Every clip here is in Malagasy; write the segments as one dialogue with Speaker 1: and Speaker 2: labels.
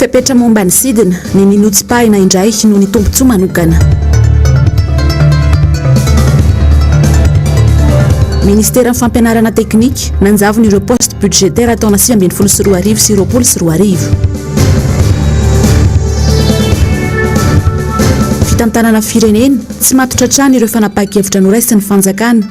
Speaker 1: Fepetra momba ny sidina, ny ninotsipahina indray noho ny tombontsoa manokana. Ministeran'ny Fampianarana Teknika, nanjavona ireo postes budgétaires taona sivy ambin'ny folo sy roa arivo sy roapolo sy roa arivo. Fitantanana firenena, tsy matotra hatrany ireo fanapahan-kevitra noraisin'ny fanjakana.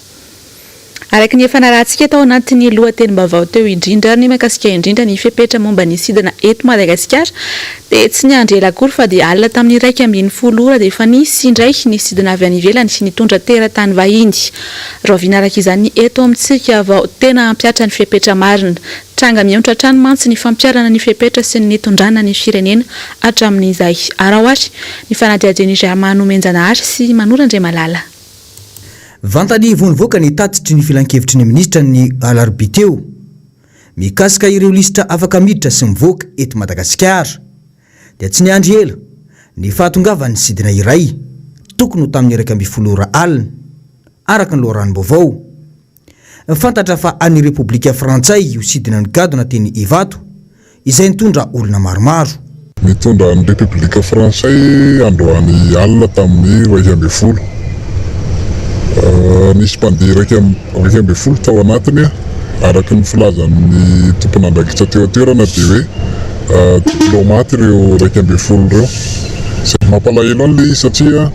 Speaker 2: Araka ny efa narahantsika tao anatin'ny lohatenim-baovao teo indrindra, ny mahakasika indrindra ny fepetra momba ny sidina eto Madagasikara dia tsy niandry ela akory fa dia alina tamin'ny iraika ambin'ny folo ora dia efa nisy indray ny sidina avy any ivelany nitondra teratany vahiny. Rahoviana araka izany eto amintsika vao tena hampihatra ny fepetra marina? Tranga mionitra hatrany mantsy ny fampiharana ny fepetra sy ny nitondrana ny firenena hatramin'izay. Araho ary ny fanadihadian'i Germain Nomenjanahary sy Manolo Andriamalala.
Speaker 3: Vantany vao nivoaka ny tatitry ny filankevitry ny minisitra ny alarobia teo, mikasika ireo lisitra afaka miditra sy mivoaka eto Madagasikara, dia tsy niandry ela ny fahatongavan'ny sidina iray, tokony ho tamin'ny iraika ambin'ny folo ora alina, araka ny loharanom-baovao. Fantatra fa an'ny Repoblika Frantsay io sidina nigadona teny Ivato, izay nitondra olona maromaro. Nitondra an'ny
Speaker 4: Repoblika Frantsay androany alina tamin'ny iraika ambin'ny folo. Nisy mpandeha iraika ambin'ny folo tao anatiny, araka ny filazan'ny tompon'andraikitra teo an-toerana dia hoe diplaomaty ireo iraika ambin'ny folo ireo. Mampalahelo an'ilay izy satria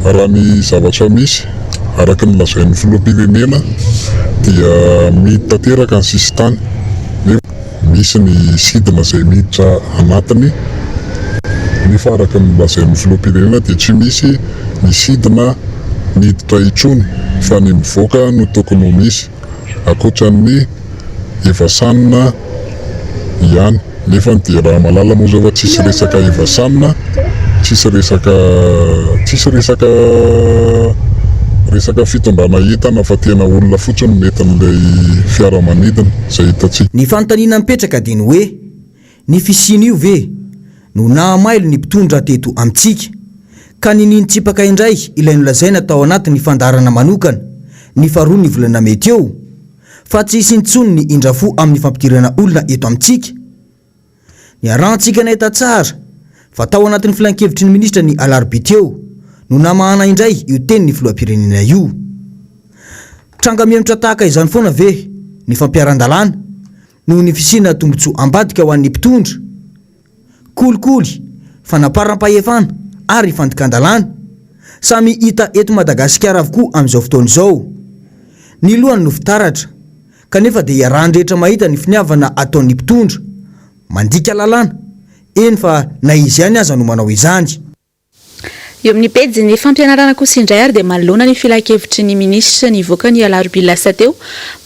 Speaker 4: raha ny zavatra misy Araka ny lazain'ny filoham-pirenena dia mihidy tanteraka ny sisintany nefa misy ny sidina izay miditra anatiny nefa araka ny lazain'ny filoham-pirenena dia tsy misy ny sidina miditra intsony fa ny mivoaka no tokony ho misy. Ankoatran'ny Eva San ihany. Nefa dia raha malala moa zao fa tsisy resaka Eva San, tsisy resaka tsisy resaka resaka fitondrana entana fa tena olona fotsiny no nentin'ilay fiaramanidina, izay hitantsika. Ny fanontaniana mipetraka
Speaker 3: dia ny hoe, Ny fisian'io ve no nahamailo ny mpitondra teto amintsika ka niniany tsipaka indray ilay nolazaina tao anatin'ny fandaharana manokana ny faharoa ny volana mey teo fa tsy hisy intsony ny indrafo amin'ny fampidirana olona eto amintsika? Niarahantsika nahita tsara fa tao anatin'ny filankevitry ny minisitra ny alarobia teo no namahana indray io tenin'ny filoham-pirenena io. Tranga miemotra tahaka izany foana ve ny fampiharan-dalàna noho ny fisiana tombontsoa ambadika ho an'ny mpitondra, kolikoly, fanaparam-pahefana ary fandikan-dalàna, samy hita eto Madagasikara avokoa amin'izao fotoana izao. Ny lohany no fitaratra, kanefa dia iarahan'ny rehetra mahita ny finiavana ataon'ny mpitondra, mandika lalàna, eny fa na izy ihany aza no manao izany.
Speaker 2: Eo amin'ny pejin'ny fampianarana kosa indray ary dia manoloana ny filankevitry ny minisitra nivoaka ny alarobia lasa teo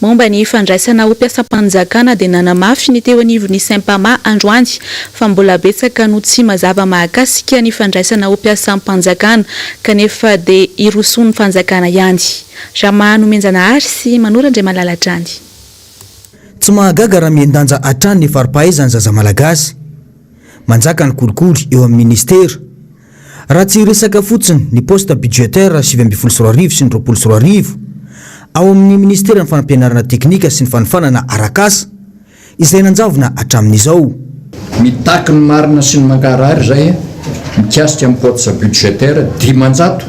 Speaker 2: momba ny fandraisana ho mpiasam-panjakana dia nanamafy ny teo anivon'ny Sempama androany fa mbola betsaka no tsy mazava mahakasika ny fandraisana ho mpiasam-panjakana kanefa dia hirosoan'ny fanjakana ihany Rama Nomenjanahary sy Manoro Andriamalala hatrany.
Speaker 3: Tsy mahagaga raha mihen-danja hatrany ny fari-pahaizan'ny zaza malagasy. Manjaka ny kolikoly eo amin'ny ministera. Raha tsy hiresaka fotsiny ny poste budgétaire sivy ambin'ny folo sy roa arivo sy ny roapolo sy roa arivo, ao amin'ny ministeran'ny fanampianarana teknika sy ny fanofanana arak'asa, izay nanjavona hatramin'izao. Mitaky
Speaker 5: ny marina sy ny mankarary izay mikasika ny poste budgétaire dimanjato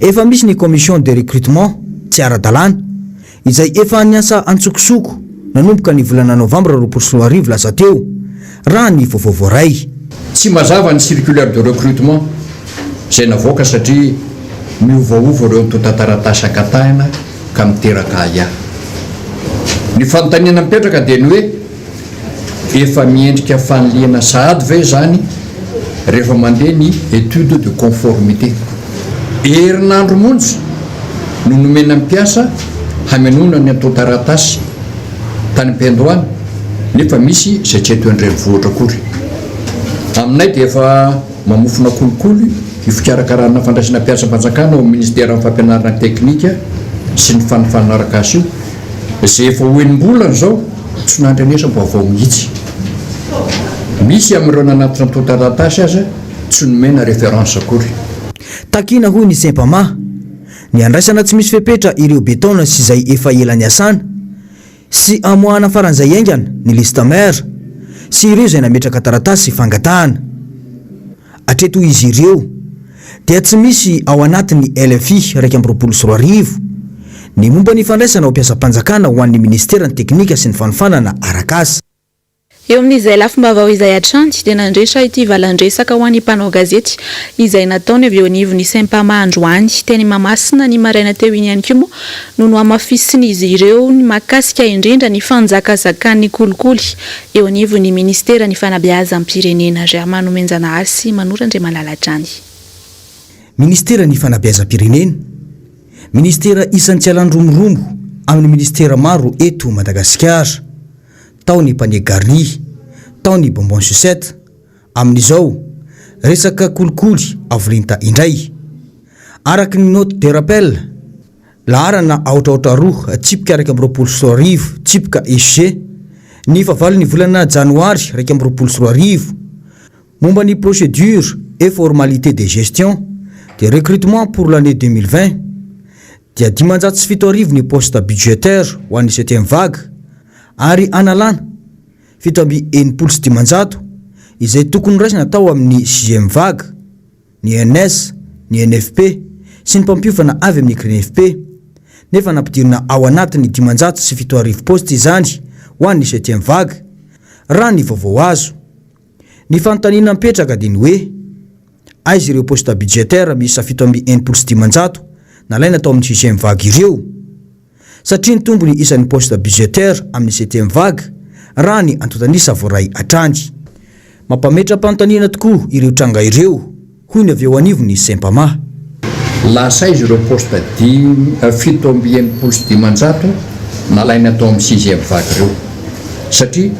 Speaker 3: Efa misy ny
Speaker 5: commission
Speaker 3: de recrutement tsy ara-dalàna, izay efa niasa antsokosoko nanomboka ny volana novambra roapolo sy roa arivo lasa teo, raha ny vaovao voaray. Tsy mazava
Speaker 5: ny circulaire de recrutement izay navoaka satria miovaova ireo antontan-taratasy ankatahina ka miteraka ahiahy. Ny fanontaniana mipetraka dia ny hoe. Efa miendrika fanilihana sahady ve izany rehefa mandeha ny étude de conformité? Herinandro monja no nomena ny mpiasa hamenoana ny antontan-taratasy tany am-piandohana nefa misy izay tsy eto an-drenivohitra akory. Aminay dia efa mamofona kolikoly io fikarakarana fandraisana mpiasam-panjakana ao amin'ny Ministeran'ny Fampianarana Teknika sy ny Fanifanana Arakasa io. Izay efa ho enim-bolana izao tsy nandrenesam-baovao mihitsy. Misy amin'ireo nanatitra antontan-taratasy aza tsy nomena référence akory. Takiana
Speaker 3: hoy ny Sempama ny handraisana tsy misy fepetra ireo be taona sy izay efa ela niasana sy hamoahana faran'izay haingana ny liste mère sy ireo izay nametraka taratasy fangatahana hatreto izy ireo. dia tsy misy ao anatin'ny LFI iraika amby roapolo sy roa arivo ny momba ny fandraisana ho mpiasam-panjakana ho an'ny Minisiteran'ny Teknika sy ny Fanofanana Arak'asa. Eo
Speaker 2: amin'izay lafim-baovao izay hatrany dia nandritra ity valan-dresaka ho an'ny mpanao gazety izay nataony avy eo anivon'ny Sempama androany teny Mahamasina ny maraina teo iny ihany koa moa no nohamafisin'izy ireo ny mahakasika indrindra ny fanjakazakan'ny kolikoly Eo anivon'ny minisiteran'ny Fanabeazam-pirenena, Rahamanonenjanahary sy Manoro Andriamalala Drany.
Speaker 3: Ministeran'ny Fanabeazam-pirenena, Ministera isan'ny tsy alany romorombo amin'ny ministera maro eto Madagasikara. Tao ny Panier Garni, tao ny Bonbon Sucette, amin'izao, resaka kolikoly avo lenta indray. Araka ny note de rappel, Laharana aotraotra roa, tsipika iraika amby roapolo sy roa arivo, tsipika EG, ny fahavalon'ny volana Janoary iraika amby roapolo sy roa arivo, momba ny procédures et formalités de gestion des recrutements pour l'année deux mille vingt, dia dimanjato sy fito arivo ny postes budgétaires ho an'ny septième vague, ary analana fito amby enimpolo sy dimanjato izay tokony noraisina tao amin'ny sixième vague. ny ENS, ny ENFP sy ny mpampiofana avy amin'ny Grenefp, nefa nampidirina ao anatin'ny dimanjato sy fito arivo paositra izany ho an'ny septième vague, raha ny vaovao azo. Ny fanontaniana mipetraka dia ny hoe, aiza ireo paositra budgétaires miisa fito amby enimpolo sy dimanjato nalaina tao amin'ny sixième vague ireo? satria nitombo ny isan'ny poste budgétaire amin'ny septième vague raha ny antontan'isa voaray hatrany. Mampametra-panontaniana tokoa ireo tranga ireo, hoy ny avy eo anivon'ny Sempama. Lasa
Speaker 5: aiza ireo poste dimy, fito amby enimpolo sy dimanjato nalaina tao amin'ny sixième vague ireo? Satria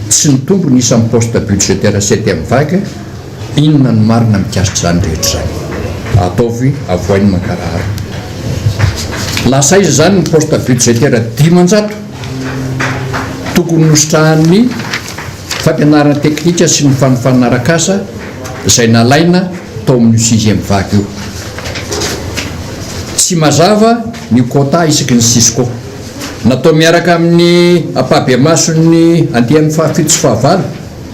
Speaker 5: tsy nitombo ny isan'ny poste budgétaire septième vague, Inona no marina mikasika izany rehetra izany? Ataovy avoay ny mangarahara. Lasa aiza izany ny poste budgétaire dimanjato tokony nositrahan'ny fampianarana teknika sy ny fanofanana arak'asa izay nalaina tao amin'io sixième vague io? Tsy mazava ny quota isaky ny cisco. Natao miaraka amin'ny ampahabemason'ny andiany fahafito sy fahavalo.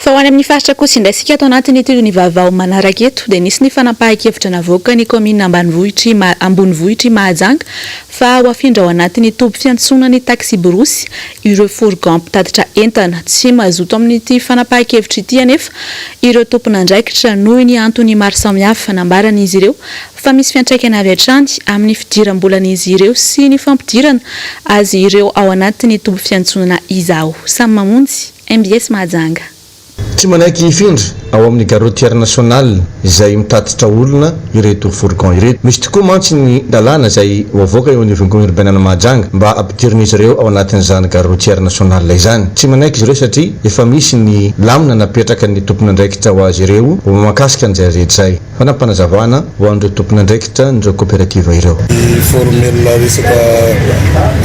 Speaker 2: Fa ho any amin'ny faritra kosa indray isika ato anatin'ity ny vaovao manaraka eto dia nisy ny fanapahan-kevitra navoakan'ny kaominina ambanivohitr'i ambonivohitr'i Mahajanga fa ho afindra ao anatin'ny toby fiantsonana ny taksiborosy ireo fourgons mpitatitra entana. Tsy mazoto amin'ity fanapahan-kevitra ity anefa ireo tompon'andraikitra noho ny antony maro samihafa nambaran'izy ireo fa misy fiantraikany avy hatrany amin'ny fidiram-bolan'izy ireo sy ny fampidirana azy ireo ao anatin'ny toby fiantsonana izaho
Speaker 6: samy
Speaker 2: mamonjy Mbs
Speaker 6: Mahajanga.
Speaker 2: Tsy manaiky hifindra ao
Speaker 6: amin'ny Gare Routière Nationale izay mitatitra olona ireto fourgons ireto. Misy tokoa mantsy ny lalàna izay ho avoaka eo anivon'ny Kaominina Orbainana Mahajanga mba ampidirin'izy ireo ao anatin'izany Gare Routière Nationale izany. Tsy manaiky izy ireo satria efa misy ny lamina napetrakan'ny tompon'andraikitra ho azy ireo ho mahakasika an'izay rehetra izay. Fanapanazavana ho an'ireo tompon'andraikitra an'ireo koperativa ireo. Miformela
Speaker 4: resaka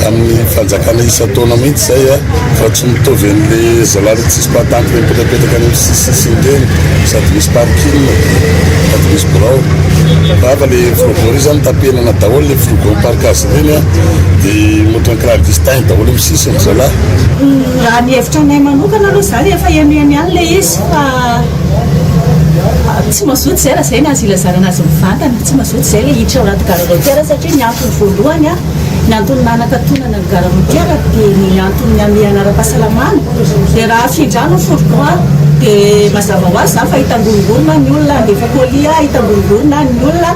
Speaker 4: amin'ny fanjakana isan-taona mihitsy izay fa tsy mitovy an'le zalahy le tsisy patente mipetrapetraka any amin'ny sisisisiny ireny sady misy parking sady misy birao rehefa le fourgon ireny zany tapenana daholo le fourgon parkage ireny de ohatran'ny crack distin daholo amin'ny sisiny zalahy. Raha ny hevitra
Speaker 7: anay manokana aloha zany efa henoheno ihany le izy. Fa tsy mazoto zay raha zay ny azo ilazana anazy mivantana, tsy mazoto zay le hiditra ao anaty gare routière satria ny antony voalohany ny antony nanakatonana ny gare routière dia ny antony nihamehana ara-pahasalamana, dia raha afindrana ny fourgon dia mazava ho azy zany fa hitangorongorona ny olona, handefa colis hitangorongorona ny olona.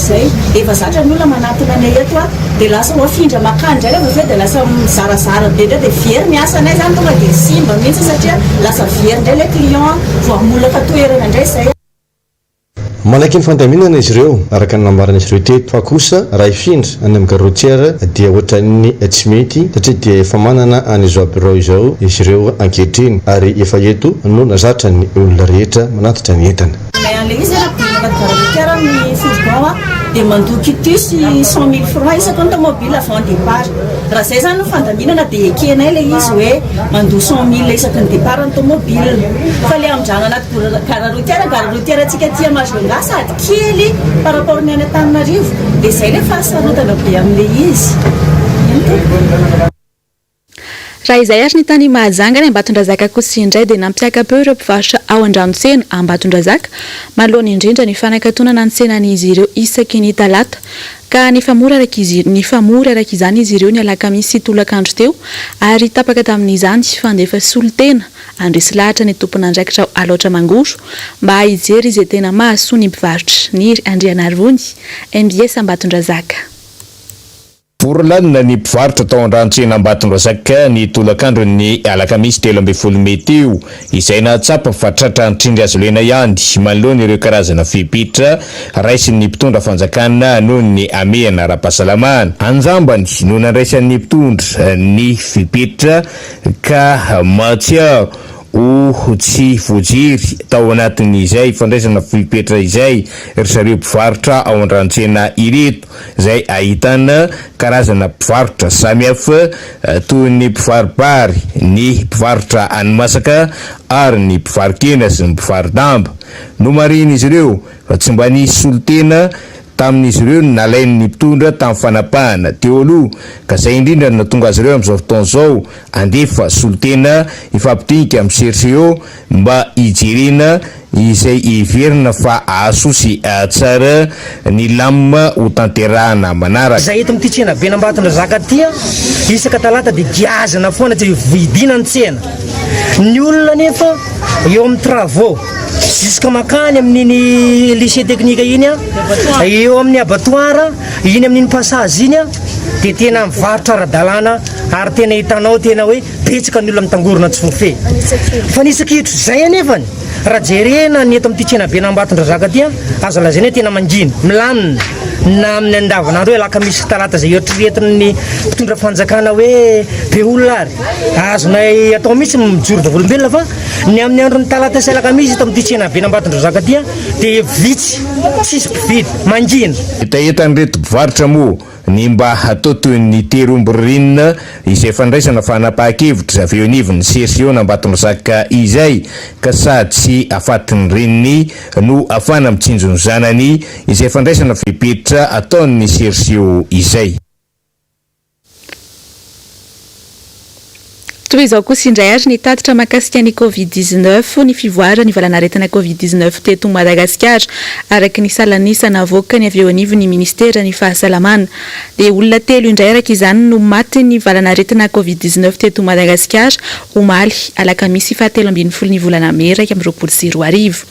Speaker 7: Zay. Efa zatra ny olona manatona anay eto a! Dia lasa ho afindra makany indray ilay vovoka dia lasa mizarazara be indray dia very ny asanay izany tonga dia simba mihitsy satria lasa very indray ilay client voamolaka toerana indray izay.
Speaker 6: Manaiky ny fandaminana izy ireo araka ny nambaran'izy ireo teto fa kosa raha hifindra any amin'ny gare routière dia ohatran'ny tsy mety satria dia efa manana an'izao birao izao izy ireo ankehitriny ary efa eto no zatrany olona rehetra manatitra ny entana. Ilay andrenesana bilan
Speaker 7: de garde routière amin'ny fourgon a, dia mandoa quitus cent mille francs isaky ny tomobile avant départ. Raha izay izany ny fandaminana dia ekenay ilay izy hoe mandoa cent mille isaky ny départ ny tomobile. Fa ilay amindrano anaty gora- garde routière, garde routière antsika aty Majunga sady kely par rapport ny any Antananarivo dia izay ilay fahasarotana be amin'ilay izy.
Speaker 2: Raha izay ary ny tany Mahajanga any Ambatondrazaka kosa indray dia nampiaka-peo ireo mpivarotra ao an-dranotsena Ambatondrazaka manoloana indrindra ny fanakatonana ny tsenan'izy ireo isaky ny talata ka nifamory araka izany izy ireo ny alakamisy sy tolakandro teo ary tapaka tamin'izany fandefa solontena andresy lahatra ny tompon'andraikitra ao Alaotra Mangoro mba hijery izay tena mahasoa ny mpivarotra Niry Andrianarivony mbs Ambatondrazaka.
Speaker 8: Vory lalina ny mpivarotra tao an-dranotsena Ambatondrazaka ny tolakandron'ny alakamisy telo ambin'ny folo mey teo, izay nahatsapa fa tratra antrindry azo lena ihany manoloana ireo karazana fepetra raisin'ny mpitondra fanjakana noho ny hamehana ara-pahasalamana. An-jambany no nandraisan'ny mpitondra ny fepetra ka mahatsiaro ho tsy voajery tao anatin'izay fandraisana fepetra izay ry zareo mpivarotra ao an-dranotsena ireto. izay ahitana karazana mpivarotra samihafa toy ny mpivaro-bary, ny mpivarotra hani-masaka ary ny mpivaro-kena sy ny mpivaro-damba. Nomarihin'izy ireo fa tsy mba nisy solontena tamin'izy ireo ny nalain'ny mpitondra tamin'ny fanapahana teo aloha ka izay indrindra no nahatonga azy ireo amin'izao fotoana izao handefa solontena hifampidinika amin'ny CRCO mba hijerena izay heverina fa hahasoa sy hahatsara ny lam ho tanterahana manaraka. Izay eto amin'ity tsenaben'i
Speaker 9: Ambatondrazaka ity an, isaka talata dia giazana foana tsy vidiana ny tsena. Ny olona anefa eo amin'ny travaux jusque mankany amin'iny lycée technique iny an, eo amin'ny abattoir, iny amin'iny passage iny an dia tena mivarotra ara-dalàna ary tena hitanao tena hoe Betsaka ny olona mitangorona antsofofehy fa ny isakihitro izay anefany raha jerena ny eto amin'ity tsenabe an'Ambatondrazaka ity an, aza lazaina hoe tena mangina, milamina na amin'ny andavanandro hoe alakamisy sy talata izay eritreretin'ny mpitondra fanjakana hoe be olona ary azonay atao mihitsy ny mijoro vavolombelona fa ny amin'ny andron'ny talata sy alakamisy eto amin'ity tsenabe an'Ambatondrazaka ity dia vitsy tsisy mpividy, mangina. Hetahetan'ireto
Speaker 8: mpivarotra moa ny mba hatao toy ny tery omby ririnina izay fandraisana fanapahan-kevitra avy eo anivon'ny sesiona Ambatondrazaka izay ka sady tsy afatin'ny reniny no afana mitsinjo ny zanany izay fandraisana fepetra ataon'ny sersio izay.
Speaker 2: Toy izao kosa indray ary ny tatitra mahakasika ny Covid dix-neuf, ny fivoaran'ny valanaretina Covid dix-neuf teto Madagasikara. Araka ny salan'isa navoakany avy eo anivon'ny minisiteran'ny Fahasalamana, dia olona telo indray araka izany no matin'ny valanaretina Covid dix-neuf teto Madagasikara, omaly alakamisy fahatelo ambin'ny folo ny volana mey iraika amby roapolo sy roa arivo.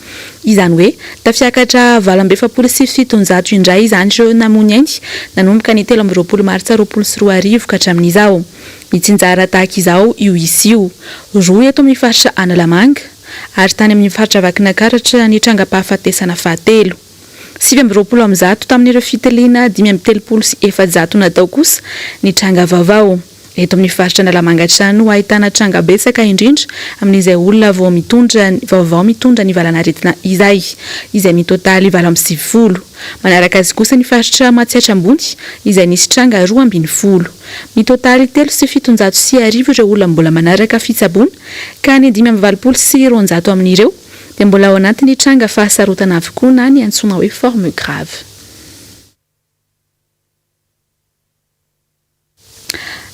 Speaker 2: Izany hoe, tafiakatra valo amby efapolo sy fitonjato indray izany ireo namony ainy nanomboka ny telo amby roapolo martsa roapolo sy roa arivo ka hatramin'izao. Mitsinjara tahaka izao io isa io, roa eto amin'ny faritra Analamanga, ary tany amin'ny faritra Vakinakaratra ny trangam-pahafatesana fahatelo. Sivy amby roapolo amin'ny zato tamin'ireo fitiliana dimy amby telopolo sy efajato natao kosa ny tranga vaovao. Eto amin'ny faritra Analamanga hatrany no ahitana tranga betsaka indrindra amin'izay olona vao mitondra vaovao mitondra ny valan'aretina izay, izay mitotaly valo amby sivifolo. Manaraka azy kosa ny faritra Matsiatra Ambony izay nisy tranga roa ambin'ny folo. Mitotaly telo sy fitonjato sy arivo ireo olona mbola manaraka fitsaboana ka ny dimy amby valopolo sy roanjato amin'ireo dia mbola ao anatin'ny tranga fahasarotana avokoa na ny antsoina hoe forme grave.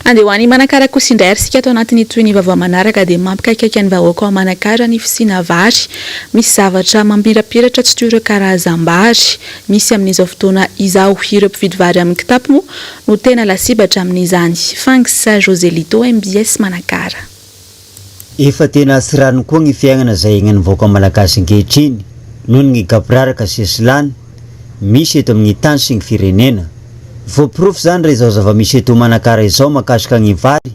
Speaker 2: Andeha ho any Manakara kosa indray ary isika ato anatin' ny tohiny vaovao manaraka dia mampikaikaika ny vahoaka ao Manakara ny fisiana vary misy zavatra mamirapiratra tsy toy ireo karazam-bary misy amin' izao fotoana izao. Ireo mpividy vary amin' ny kitapo moa no tena lasibatra amin' izany. Fangs Joselito, mbs Manakara.
Speaker 10: Efa tena tsy rariny koa ny fiainana izay iainan'ny vahoaka malagasy ankehitriny noho ny gaboraraka sesilany misy eto amin'ny tany sy ny firenena. Voaporofo izany raha izao zava-misy eto Manakara izao mahakasika ny vary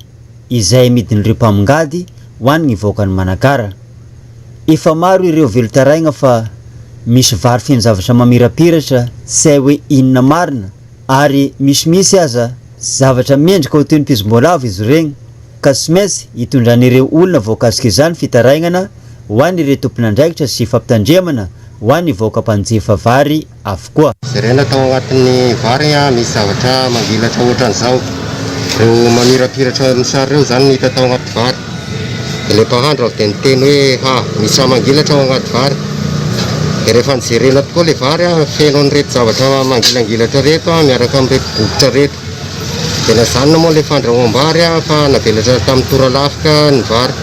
Speaker 10: izay amidin'ireo mpamongady ho an'ny vahoakan'i Manakara. Efa maro ireo velon-taraigna fa misy vary feno zavatra mamirapiratra tsy hay hoe inona marina ary misimisy aza zavatra mendrika ho toy ny pizim-boalavo izy ireny ka tsy maintsy hitondran'ireo olona voakasika izany fitarainana ho an'ireo tompon'andraikitra sy fampitandremana ho an'ny vahoaka mpanjifa vary avokoa. Jerena tao anatin'ny
Speaker 11: vary misy zavatra manvilatra ohatran'izao. Ireo mamirapiratra mosary ireo izany no hita tao anaty vary. Ilay mpahandro avy dia niteny hoe, Ha, misy raha mangilatra ao anaty vary. Dia rehefa nijerena tokoa ilay vary, feno an'ireto zavatra mangilangilatra ireto miaraka amin'ireto bokotra ireto. Dia najanona moa ilay fandrahoam-bary fa navelatra tamin'ny toralafika ny vary.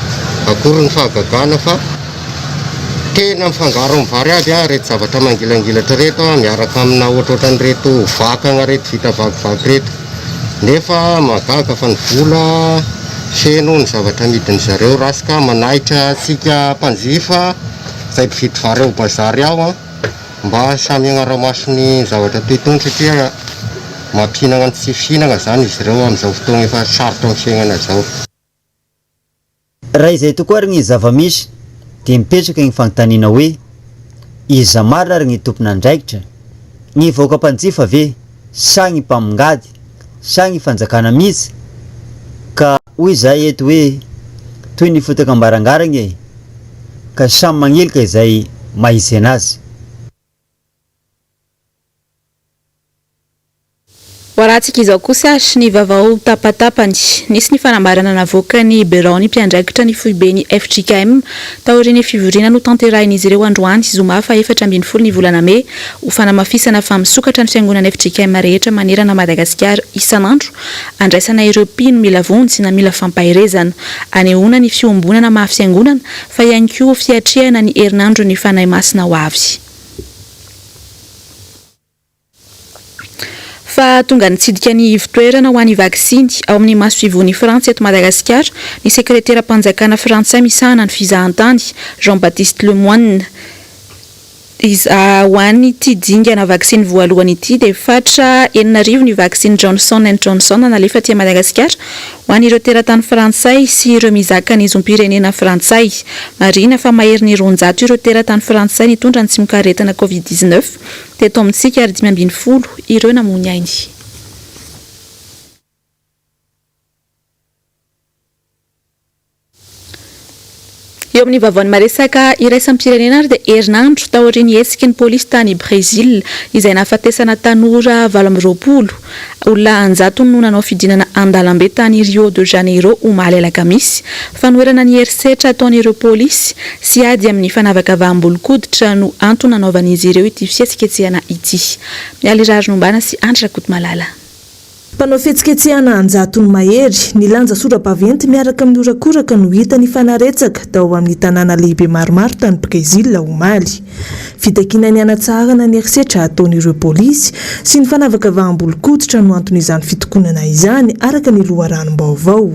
Speaker 11: Akory ny fahagagana fa tena mifangaro amin'ny vary aby ireto zavatra mangilangilatra ireto miaraka amina ohatrohatran'ireto vakana ireto vita vakivaky ireto. Nefa mahagaga fa ny vola feno ny zavatra amidin-dry zareo ratsy ka manahitra antsika mpanjifa izay mpividy vary ao bazary ao an! mba samy hagnara-maso ny zavatra toy itony satria mampihinagna ny tsy fihinagna izany izy ireo amin'izao fotoagna efa sarotra amin'ny fiaignana izao.
Speaker 10: Raha izay tokoa ary ny zava-misy dia mipetraka ny fanontaniana hoe, iza marina ary ny tompon'andraikitra? Ny vahoaka mpanjifa ve sa ny mpamongady sa ny fanjakana mihitsy? Ka hoy izahay eto hoe, toy ny fotaka am-barangarana e! Ka samy manilika izay maizena azy.
Speaker 2: Ho arantsika izao kosa ary ny vaovao tapatapany. Nisy ny fanambarana navoakan'ny biraon'ny mpiandraikitra ny foiben'ny fjkm taorian'ny fivoriana notanterahin'izy ireo androany zoma fahefatra ambin'ny folo ny volana mey ho fanamafisana fa misokatra ny fiangonan'ny fjkm rehetra manerana Madagasikara isan'andro andraisana ireo mpino mila vonjy na mila fampaherezana anehoana ny fiombonana maha fiangonana fa ihany koa fiatrehana ny herinandron'ny Fanahy Masina ho avy. Fa tonga nitsidika ny ivon-toerana ho an'ny vaksiny, ao amin'ny masoivohon'i Frantsa eto Madagasikara, ny sekreteram-panjakana frantsay misahana ny fizahantany, Jean-Baptiste Lemoine. Ho an'ity dingana vaksiny voalohany ity dia fatra enina arivo ny vaksiny Johnson and Johnson nalefa aty Madagasikara. Ho an'ireo teratany frantsay sy ireo mizaka ny zom-pirenena frantsay. Marihina fa mahery ny roanjato ireo teratany frantsay nitondra ny tsimok'aretina covid dix-neuf teto amintsika ary dimy ambin'ny folo ireo namoy ainy. Eo amin'ny vaovaon'ny maresaka iraisam-pirenena ary dia herinandro taorian'ny hetsiky ny polisy tany Brezila izay nahafatesana tanora valo amby roapolo, olona an-jatony no nanao fidinana an-dalambe tany Rio de Janeiro omaly alakamisy, fanoherana ny herisetra ataon'ireo polisy sy ady amin'ny fanavakavaham-bolonkoditra no antony nanaovan'izy ireo ity fihetsiketsehana ity. Mialy Raharinombana sy Andry Rakotomalala. Mpanao
Speaker 12: fihetsiketsehana an-jatony mahery, nilanja sora-baventy miaraka amin'ny horakoraka no hita nifanaretsaka tao amin'ny tanàna lehibe maromaro tany Brezila, omaly. Fitakiana ny hanatsarana ny herisetra ataon'ireo polisy sy ny fanavakavaham-bolonkoditra no anton'izany fitokonana izany, araka ny loharanom-baovao.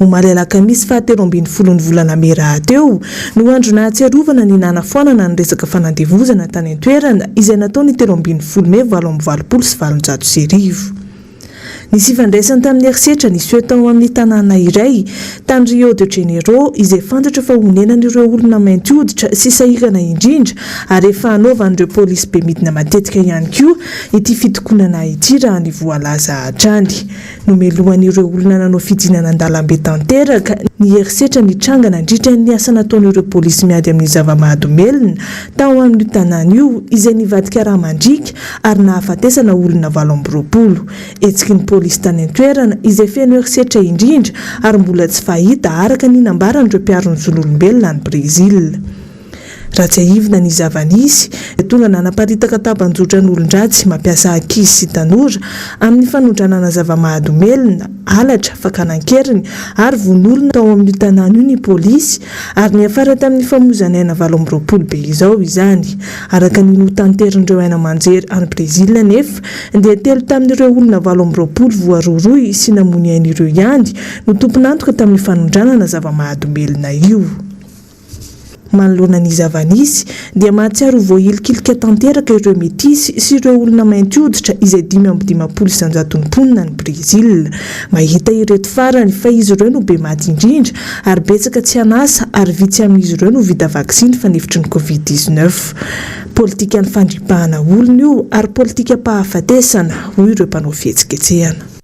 Speaker 12: Omaly alakamisy faha telo ambin'ny folon'ny volana mey rahateo no andro nahatsiarovana ny nanafoanana ny resaka fanandevozana tany an-toerana izay natao ny telo ambin'ny folo mey valo amby valopolo sy valonjato sy arivo. Nisy ifandraisany tamin'ny herisetra niseho tao amin'ny tanàna iray tany Rio de Janeiro izay fantatra fa honenan'ireo olona mainty hoditra sy sahirana indrindra ary efa hanaovan'ireo polisy bemidina matetika ihany koa ity fitokonana ity raha ny voalaza hatrany. Nomelohan'ireo olona nanao fidinana an-dalambe tanteraka ny herisetra nitranga nandritra ny asa nataon'ireo polisy miady amin'ny zava-mahadomelina tao amin'io tanàna io izay nivadika rà mandriaka ary nahafatesana olona valo amby roapolo. Hetsiky ny polisy tany an-toerana izay feno herisetra indrindra ary mbola tsy fahita araka ny nambaran'ireo mpiaro ny zon'olombelona any Brezila. Raha tsiahivina ny zava-nisy, dia tonga nanaparitaka tambajotra ny olon-dratsy mampiasa ankizy sy tanora amin'ny fanondranana zava-mahadomelina, halatra, fakana an-keriny ary vono olona tao amin'io tanàna io ny polisy ary niafara tamin'ny famoizana aina valo amby roapolo be izao izany. Araka ny notanterin'ireo haino aman-jery any Brezila anefa dia telo tamin'ireo olona valo amby roapolo voarohirohy sy namoy ny ainy ireo ihany no tompon'antoka tamin'io fanondranana zava-mahadomelina io. Manoloana ny zava-nisy, dia mahatsiaro ho voahilikilika tanteraka ireo metisy sy ireo olona mainty hoditra izay dimy amby dimampolo isan-jaton'ny mponina any Brezila. Mahita ireto farany fa izy ireo no be maty indrindra ary betsaka tsy an'asa ary vitsy amin'izy ireo no vita vaksiny fanefitry ny Covid dix-neuf. Politikan'ny fandripahana olona io ary politikam-pahafatesana, hoy ireo mpanao fihetsiketsehana.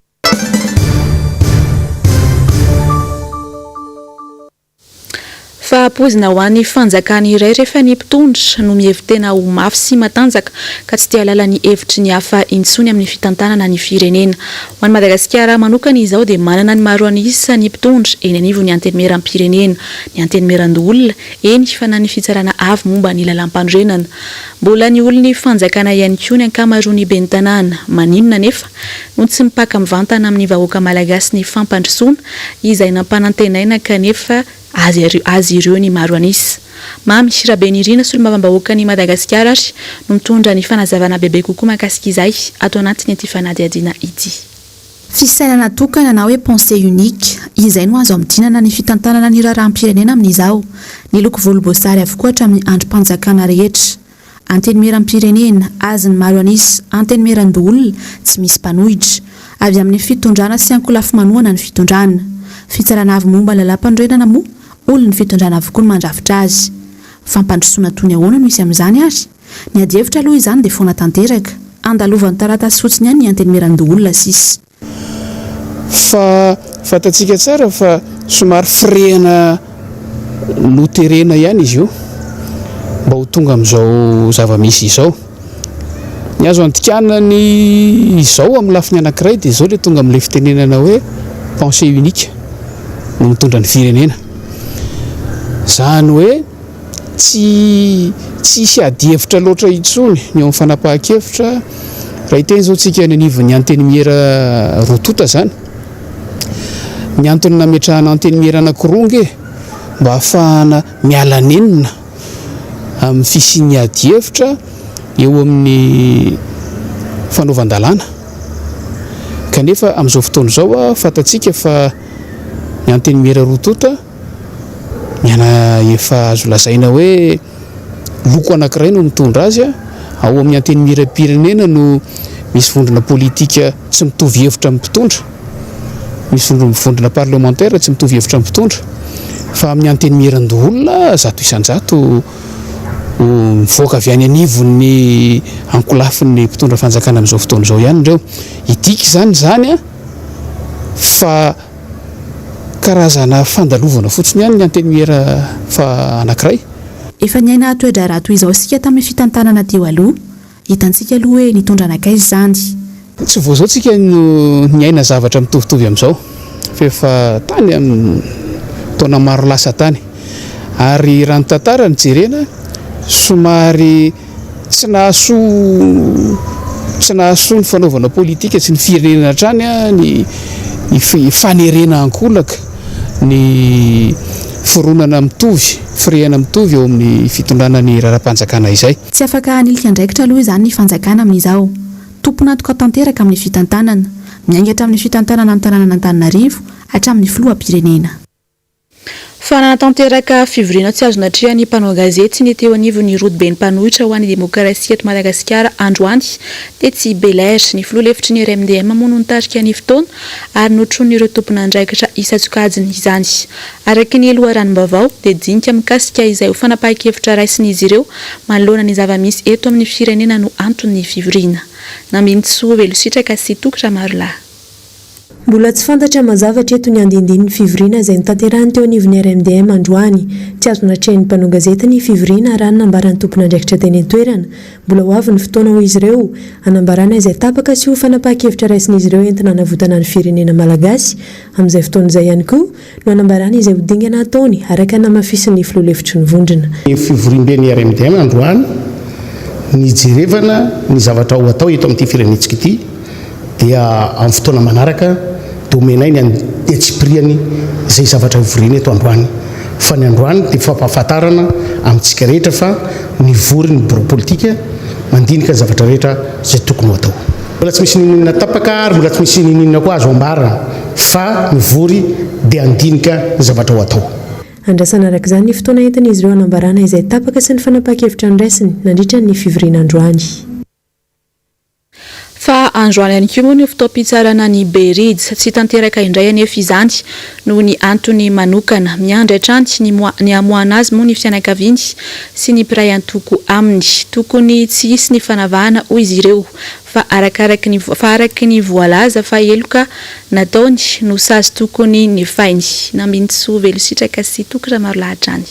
Speaker 2: Fa poizina ho an'ny fanjakana iray rehefa ny mpitondra no mihevi-tena ho mafy sy matanjaka ka tsy te halala ny hevitry ny hafa intsony amin'ny fitantanana ny firenena. Ho an'i Madagasikara manokana izao dia manana ny maro an'isa ny mpitondra eny anivon'ny Antenimieram-pirenena, ny Antenimieran-doholona, eny fa na ny Fitsarana Avo momba ny Lalàmpanorenana. Mbola ny olon'ny fanjakana ihany koa ny ankamaroan'ny ben'ny tanàna. Maninona anefa? ho tsy mipaka mivantana amin'ny vahoaka malagasy ny fampandrosoana izay nampanantenaina kanefa azy ireo ny maro an'isa. Mamy Rabenirina solombavambahoakan'i Madagasikara ary no mitondra ny fanazavana bebe kokoa mahakasika izay ato anatin'ity fanadihadiana ity. Fisainana
Speaker 1: tokana na hoe pensée unique, izay no azo ampidinana ny fitantanana ny raharaham-pirenena amin'izao. Niloko volomboasary avokoa hatramin'ny andrim-panjakana rehetra. Antenimieram-pirenena, azy ny maro an'isa, Antenimieran-doholona, tsy misy mpanohitra. Avy amin'ny fitondrana sy ankolafy manohana ny fitondrana. Fitsarana avy momba ny lalàmpanorenana moa, olon'ny fitondrana avokoa no mandrafitra azy. Fampandrosoana toy ny ahoana no hisy amin'izany ary? Ny adihevitra aloha izany dia foana tanteraka. Andalovan'ny taratasy fotsiny ihany ny Antenimieran-doholona sisa.
Speaker 13: Fa fantatsika tsara fa somary firehana loterena ihany izy io mba ho tonga amin'izao zava-misy izao. Ny azo andikana ny izao amin'ny lafiny anankiray dia izao ilay tonga amin'ilay fitenenana hoe pensée unique no mitondra ny firenena. Izany hoe. tsy tsy hisy adihevitra loatra intsony ny eo amin'ny fanapahan-kevitra raha hiteny izao tsika any anivon'ny antenimiera roa tonta izany ny antony nametrahana antenimiera anankiroa nge mba hahafahana miala nenina amin'ny fisian'ny adihevitra eo amin'ny fanaovan-dalàna kanefa amin'izao fotoana izao a fantatsika fa ny antenimiera roa tonta Ny ana efa azo lazaina hoe loko anankiray no mitondra azy. Ao amin'ny Antenimierampirenena no misy vondrona politika tsy mitovy hevitra amin'ny mpitondra, misy vondrona parlemantera tsy mitovy hevitra amin'ny mpitondra fa amin'ny Antenimierandoholona zato isan-jato mivoaka avy any anivon'ny ankolafin'ny mpitondra fanjakana amin'izao fotoana izao ihany ireo. Hidika izany izany fa... Karazana fandalovana fotsiny ihany ny Antenimiera fa anankiray. Efa niaina
Speaker 1: toe-draharaha toy izao isika tamin'ny fitantanana teo aloha. Hitantsika aloha hoe nitondra nankaiza izany. Tsy vao izao
Speaker 13: isika no niaina zavatra mitovitovy amin'izao fa efa tany amin'ny taona maro lasa tany. Ary raha ny tantara no jerena, somary. Tsy nahasoa tsy nahasoa ny fanaovana politika sy ny firenena hatrany ny fanerena ankolaka ny fironana mitovy, firehana mitovy eo amin'ny fitondrana ny raharaham-panjakana izay. Tsy afaka hanilika
Speaker 1: andraikitra aloha izany ny fanjakana amin'izao. Tompon'antoka tanteraka amin'ny fitantanana. Miainga hatramin'ny fitantanana ny tanànan'Antananarivo, hatramin'ny filoham-pirenena.
Speaker 2: Fa nanatanteraka fivoriana tsy azo natrehan'ny mpanao gazety sy ny teo anivon'ny rodoben'ny mpanohitra ho an'ny demokrasia eto Madagasikara androany, tetsy Bel'Air. Ny filoha lefitry ny RMDM moa no nitarika ny fotoana ary notronin'ireo tompon'andraikitra isan-tsokajiny izany. Araka ny loharanom-baovao, dia dinika mikasika izay ho fanapahan-kevitra raisin'izy ireo manoloana ny zava-misy eto amin'ny firenena no anton'ny fivoriana. Nambinintsoa Velositraka sy Toky Ramarolahy. Mbola
Speaker 14: tsy fantatra mazava hatreto ny andiandinin'ny fivoriana izay notanterahiny teo anivon'ny RMDM androany. Tsy azo natrehin'ny mpanao gazety ny fivoriana raha ny nambaran'ny tompon'andraikitra teny an-toerana. Mbola ho avy ny fotoana hoy izy ireo, hanambarana izay tapaka sy ho fanapahan-kevitra raisin'izy ireo entina hanavotana ny firenena malagasy amin'izay fotoana izay ihany koa, no hanambarany izay ho dingana hataony, araka ny namafisin'ny filoha lefitry ny vondrona. Ny fivoriamben'ny
Speaker 13: RMDM androany nijerevana ny zavatra ho atao eto amin'ity firenentsika ity dia amin'ny fotoana manaraka dia omenay ny antsipiriany izay zavatra hivoriana eto androany fa ny androany dia fampahafantarana amintsika rehetra fa nivory ny biraom-politika mandinika ny zavatra rehetra izay tokony ho atao. Mbola tsy misy ninoninona tapaka ary mbola tsy misy ninoninona koa azo ambarana fa mivory dia handinika ny zavatra ho atao. Andrasana araka izany
Speaker 14: ny fotoana entin'izy ireo hanambarana izay tapaka sy ny fanapahan-kevitra andraisiny nandritra ny fivoriana androany.
Speaker 2: Fa androany ihany koa moa no fotoam-pitsarana ny Bridge. Tsy tanteraka indray anefa izany noho ny antony manokana. Miandry hatrany ny ny hamoahana azy moa ny fianakaviany sy ny mpiray antoko aminy. Tokony tsy hisy ny fanavahana hoy izy ireo. fa arakaraky ny fa araky ny voalaza fa heloka nataony no sazy tokony nefainy. Nambinintsoa Velositraka sy Toky Ramarolahatra any.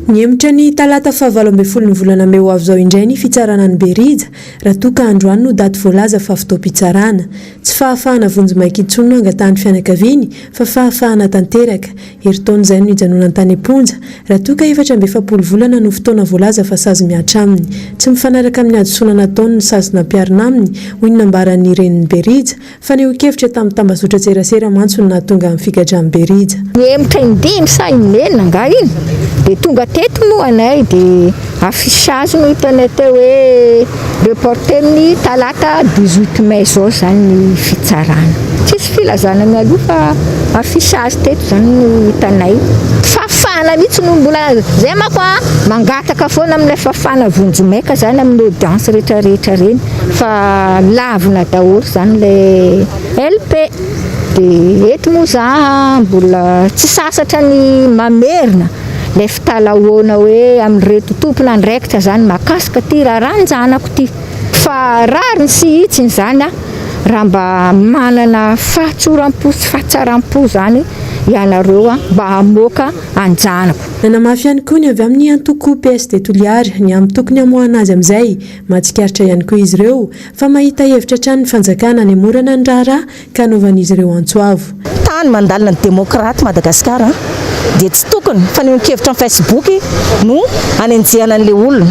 Speaker 2: Nihemotra
Speaker 14: ny talata faha valo ambin'ny folo ny volana mey ho avy izao indray ny fitsarana an'i Berija raha toa ka androany no daty voalaza fa fotoam-pitsarana. Tsy fahafahana vonjimaika intsony no angatahan'ny fianakaviany fa fahafahana tanteraka. Herintaona izay no nijanonany tany am-ponja, raha toa ka efatra amby efapolo volana no fotoana voalaza fa sazy mihatra aminy. Tsy mifanaraka amin'ny hadisoana nataony ny sazy nampiharina aminy, hoy ny nambaran'ny renin'i Berija. Fanehoan-kevitra tamin'ny tambazotran-tserasera mantsy no nahatonga ny figadran'i Berija. Nihemotra indimy
Speaker 15: sa inenina angaha iny dia tonga teto moa anay dia. Affichage no hitanay teo hoe reporter ny talata dix huit mai zao zany ny fitsarana. Tsisy filazana mialoha fa affichage teto zany no hitanay. Fafana mihitsy no mbola zay manko a! Mangataka foana amin'ilay fafana vonjy maika zany amin'ny audience rehetra rehetra reny fa lavina daholo zany ilay LP de eto moa za mbola tsy sasatra ny mamerina ilay Talahoana hoe amin'ireto tompon'andraikitra izany mahakasika ity raharanjanako ity. Fa rariny sy hitsiny izany an! Raha mba manana fahatsoram-po sy fahatsaram-po izany ianareo an! Mba hamoaka an-janako. Nanamafy ihany koa
Speaker 14: ny avy amin'ny antoko PSD Toliara ny amin'ny tokony hamoahana azy amin'izay mahatsikaritra ihany koa izy ireo fa mahita hevitra hatrany ny fanjakana hanemorana ny raharaha Ka anaovan'izy ireo antso avo. Tany mandalina ny
Speaker 16: demokraty Madagasikara dia tsy tokony fanehoan-kevitra am facebook no anenjehana an'ilay olona.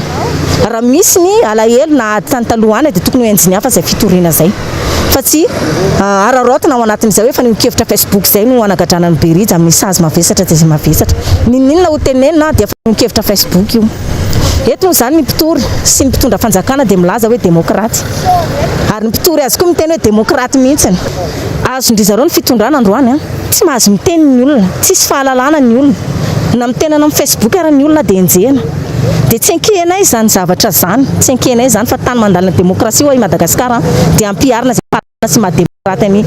Speaker 16: Raha misy ny alahelo na ady tany taloha any dia tokony ho enjiny hafa izay fitoriana izay. Fa tsy araraotina ao anatin'izay hoe fanehoan-kevitra facebook izay no anagadrana an'i Berija amin'ny sazy mavesatra dia izay mavesatra. N'inon'inona ho tenenina dia fanehoan-kevitra facebook io. Eto moa izany ny mpitory sy ny mpitondra fanjakana dia milaza hoe demokraty. Ary ny mpitory azy koa miteny hoe demokraty mihitsiny. Azon-dry zareo ny fitondrana androany an! Tsy mahazo miteny ny olona, tsisy fahalalana ny olona. Na miteny any amin'ny Facebook ary ny olona dia enjehina. Dia tsy enkehinay izany zavatra izany, tsy enkehinay izany fa tany mandalina demokrasia ho'a i Madagasikara dia ampiharina izay fahalalana. tena tsy maha demokraty an'i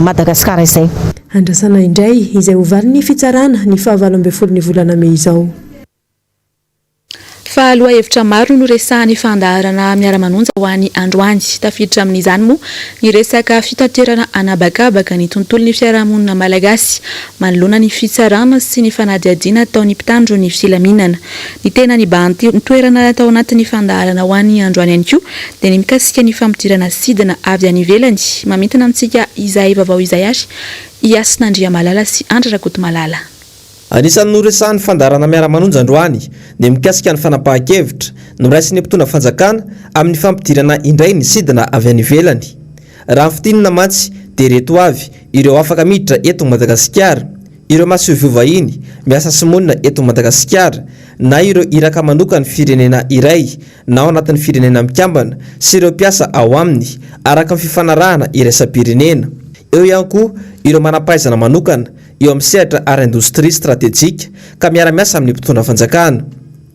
Speaker 16: Madagasikara izay. Andrasana indray
Speaker 14: izay ho valin'ny fitsarana ny faha valo ambin'ny folo ny volana mey izao.
Speaker 2: Fa lohahevitra maro no resahan'ny fandaharana Miara-manonja ho an'i androany. Tafiditra amin'izany moa ny resaka fitaterana anabakabaka ny tontolon'ny fiarahamonina malagasy. Manoloana ny fitsarana sy ny fanadihadiana ataon'ny mpitandro ny filaminana, ny tena nibahan-ty toerana tao anatin'ny fandaharana ho an'ny androany ihany koa dia ny mikasika ny famodirana sidina avy any ivelany. Mamintina antsika izay vaovao izay ary i Hasina Andriamalala sy Andry Rakotomalala. Anisan'ny
Speaker 17: noresahan'ny fandaharana Miara-manonja androany ny mikasika ny fanapahan-kevitra noraisin'ny mpitondra fanjakana amin'ny fampidirana indray ny sidina avy any ivelany. Raha fintinina mantsy dia ireto avy ireo afaka miditra eto Madagasikara, ireo masoivoho vahiny miasa sy monina eto Madagasikara, na ireo iraka manokan'ny firenena iray na ao anatin'ny firenena mikambana sy ireo mpiasa ao aminy araka ny fifanarahana iraisam-pirenena. Eo ihany koa ireo manam-pahaizana manokana eo amin'ny sehatra ara-indostria stratejika ka miara-miasa amin'ny mpitondra fanjakana.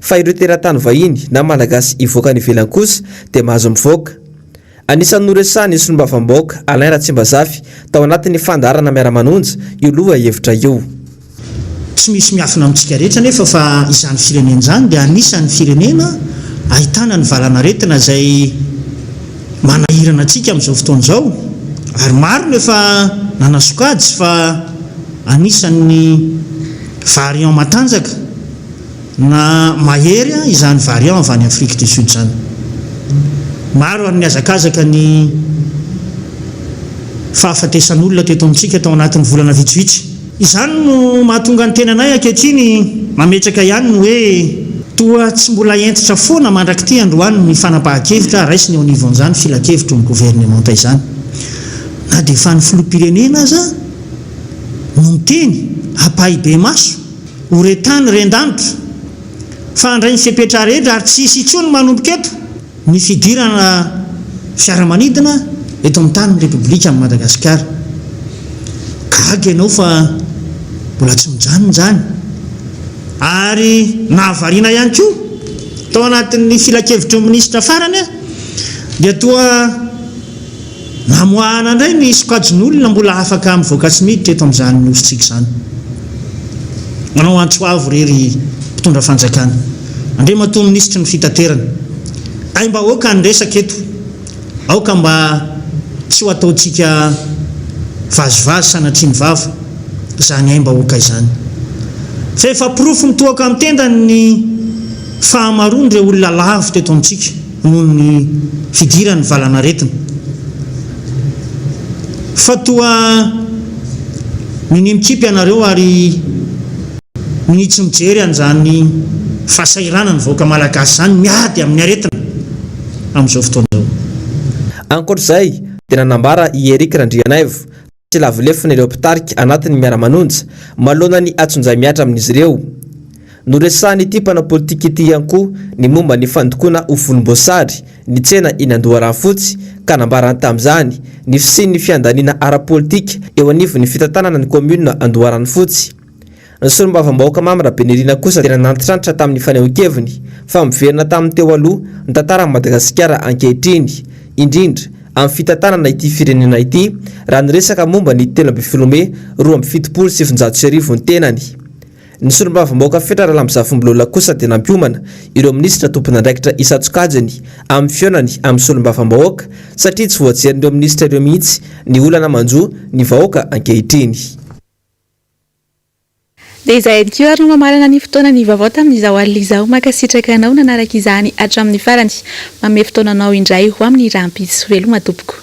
Speaker 17: Fa ireo teratany vahiny na Malagasy hivoaka any ivelany kosa dia mahazo mivoaka. Anisan'ny noresahan'ny solombavambahoaka Alain Ratsimbazafy tao anatin'ny fandaharana Miara-manonja io loha hevitra io. Tsy
Speaker 18: misy miafina amintsika rehetra anefa fa izany firenena izany dia anisan'ny firenena ahitana ny valan'aretina izay manahirana antsika amin'izao fotoana izao ary maro no efa nanasokajy fa anisan'ny variant matanjaka Na mahery izany variant avy any Afrique du Sud izany, maro ary ny hazakazaka ny fahafatesan'olona teto amintsika tao anatin'ny volana vitsivitsy. Izany no mahatonga ny tenanay ankehitriny mametraka ihany ny hoe toa tsy mbola hentitra foana mandrak'ity androany ny fanapahan-kevitra raisina eo anivon'izany filankevitry ny governemanta izany. Na dia efa ny filoham-pirenena aza no miteny ampahibemaso. Ho re tany re an-danitra. Fa handray ny fepetra rehetra ary tsy hisy intsony manomboka eto ny fidirana fiaramanidina eto amin'ny tanin'ny Repoblika an'i Madagasikara. Gaga ianao fa mbola tsy mijanona izany ary nahavariana ihany koa tao anatin'ny filankevitry ny minisitra farany dia toa Namoahana indray ny sokajin'olona mbola afaka mivoaka sy miditra eto amin'izany nosintsika izany. Manao antso avo re ry mpitondra fanjakana, Andriamatoa Minisitry ny Fitaterana, aim-bahoaka ny resaka eto, aoka mba tsy ho ataontsika vazivazy sanatria ny vava izany aim-bahoaka izany. Fa efa porofo mitohoka amin'ny tendany ny fahamaroan'ireo olona lavo teto amintsika. noho ny fidiran'ny valanaretina fa toa minia mikipy ianareo ary minia tsy mijery an'izany fahasahiranan'ny vahoaka malagasy izany miady amin'ny aretina amin'izao fotoana izao. Ankoatra
Speaker 17: izay dia nanambara i Eric Randrianaivo, sy lavo lefona ireo mpitarika anatin'ny Miara-manonja manoloana ny hatsonjay mihatra amin'izy ireo. Noresahan'ity mpanao politika ity ihany koa ny momba ny fandokoana ho volomboasary ny tsena eny Andoharanofotsy ka nambarany tamin'izany ny fisian'ny fiandaniana ara-politika eo anivon'ny fitantanana ny kaominina Andoharanofotsy. Ny solombavambahoaka Mamy Rabenirina kosa dia nanantitrantitra tamin'ny fanehoan-keviny fa miverina tamin'ny teo aloha ny tantaran'i Madagasikara ankehitriny, indrindra amin'ny fitantanana ity firenena ity raha niresaka momba ny telo ambin'ny folo mey roa amby fitopolo sy sivinjato sy arivo ny tenany. Ny solombavambahoaka Fetra Ralambizafimbolola kosa dia nampiomana ireo minisitra tompon'andraikitra isan-tsokajiny amin'ny fihaonany amin'ny solombavambahoaka satria tsy voajerin'ireo minisitra ireo mihitsy ny olana manjo ny vahoaka ankehitriny.
Speaker 2: Dia izay ihany koa ary no mamarana ny fotoana ny vaovao tamin'izao alina izao. Mankasitraka anao nanaraka izany hatramin'ny farany. Manome fotoananao indray ho amin'ny rahampitso. Veloma tompoko.